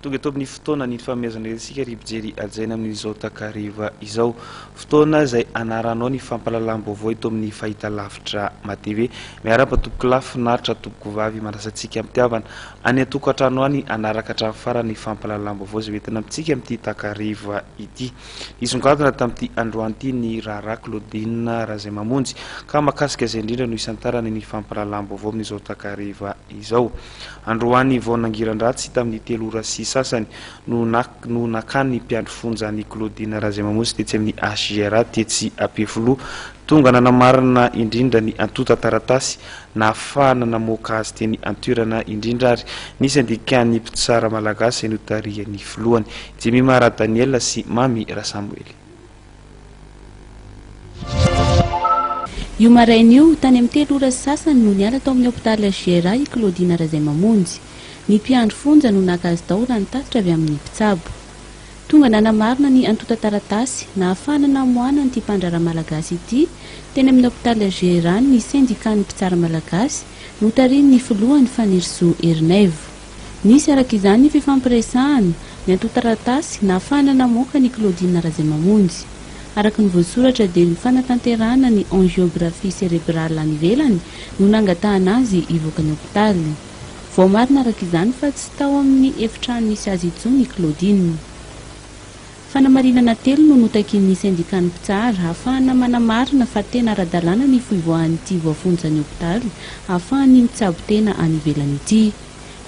tonga eto amin'ny fotoana ny famehazana isika ry mpijery hajaina amin'izao takariva izao fotoana izay anaranao ny fampalalam-baovao eto amin'ny fahitalavitra matv miaraba tompoko lahy finaritra tompoko vavy manasantsika mitiavana Any an-tokantrano any hanaraka hatramin'ny farany ny fampahalalam-baovao izay hoentina amintsika amin'ity takariva ity. Nisongadina tamin'ity androany ity ny raharaha Claudine Razaimamonjy ka mahakasika izay indrindra no hisantarany ny fampahalalam-baovao amin'izao takariva izao. Androany vao nangiran-dratsy tamin'ny telo ora sy sasany no no nakany ny mpiandry fonja an'i Claudine Razaimamonjy tetsy amin'ny HJRA tetsy Ampefiloha Tonga nanamarina indrindra ny antontan-taratasy nahafahana namoaka azy teny an-toerana indrindra ary nisy andikan'ny mpitsara malagasy izay notarihan'ny filohany, Jemima Ra Daniel sy Mamy Ra Samoely. Io maraina io, tany amin'ny telo ora sy sasany no niala tao amin'ny hopitaly GRA i Claudine Razaimamonjy. Ny mpiandry fonja no naka azy tao raha ny tatitra avy amin'ny mpitsabo. Tonga nanamarina ny antontan-taratasy nahafahana namoahana an'ity mpandraharaha malagasy ity teny amin'ny hopitaly Ageran ny Sendikan'ny mpitsara malagasy notarihin'ny filohany Fanirisoa Erinaivo. Nisy araka izany ny fifampiresahana, ny antontan-taratasy nahafahana namoaka an'i Claudine Razaimamonjy. Araka ny voasoratra dia ny fanatanterahana ny angiografia serebrale any ivelany no nangatahana azy hivoaka ny hopitaly. Voamarina araka izany fa tsy tao amin'ny efitrano nisy azy intsony i Claudine. Fanamarinana telo no notakian'ny sendikan'ny mpitsara hahafahana manamarina fa tena ara-dalàna ny fivoahan'ity voafonjan'ny hopitaly hahafahan'ny mitsabo tena any ivelany ity.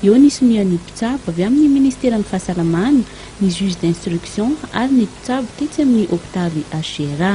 Eo ny sonian'ny mpitsabo avy amin'ny Ministeran'ny Fahasalamana, ny juge d'instruction ary ny mpitsabo tetsy amin'ny hopitaly HGRA.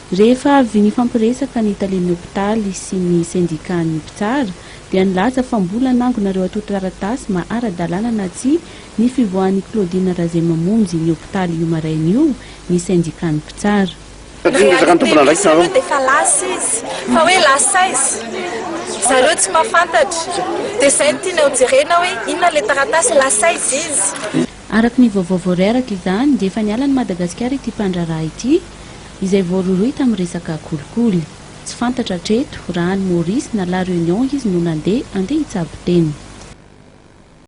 Rehefa avy nifampiresaka ny talen'ny hopitaly sy ny sendikàn'ny mpitsara dia nilaza fa mbola nangonareo atontaratasy maha ara-dalàna na tsia ny fivoahan'i Claudine Razay mamonjy ny hopitaly io maraina io ny sendikàn'ny mpitsara. Satria ny resaka ny tompon'andraikitra aloha dia efa lasa izy, fa hoe lasa aiza? zareo tsy mahafantatra, dia izay no tianay hojerena hoe inona ilay taratasy, lasa aiza izy? Araka ny vaovao voareraka izany dia efa niala an'i Madagasikara ity mpandraharaha ity izay voarohirohy tamin'ny resaka kolikoly. Tsy fantatra hatreto raha any Maurice na La Réunion izy no nandeha handeha hitsabo tena.